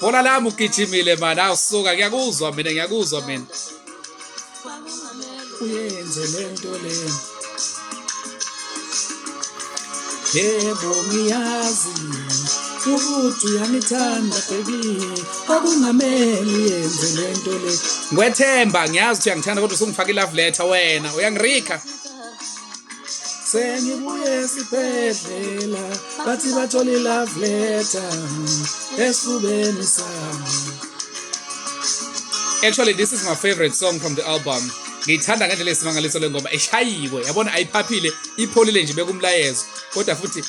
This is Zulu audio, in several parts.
Bhola lami ugijimile mani awusuka ngiyakuzwa mina ngiyakuzwa mina. Uyenze lento lento. Yebo ngiyazi ukuthi uyangithanda baby okungameli yenze lento le Ngwethemba ngiyazi ukuthi uyangithanda kodwa usungifaka i love letter wena uyangirika sengibuye esibhedlela bathi bathola ilove letter esifubeni sami actually this is my favorite song from the album ngiyithanda ngendlela esimangaliso le ngoma eshayiwe yabona ayiphaphile ipholile nje bekumlayezo kodwa futhi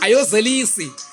ayozelisi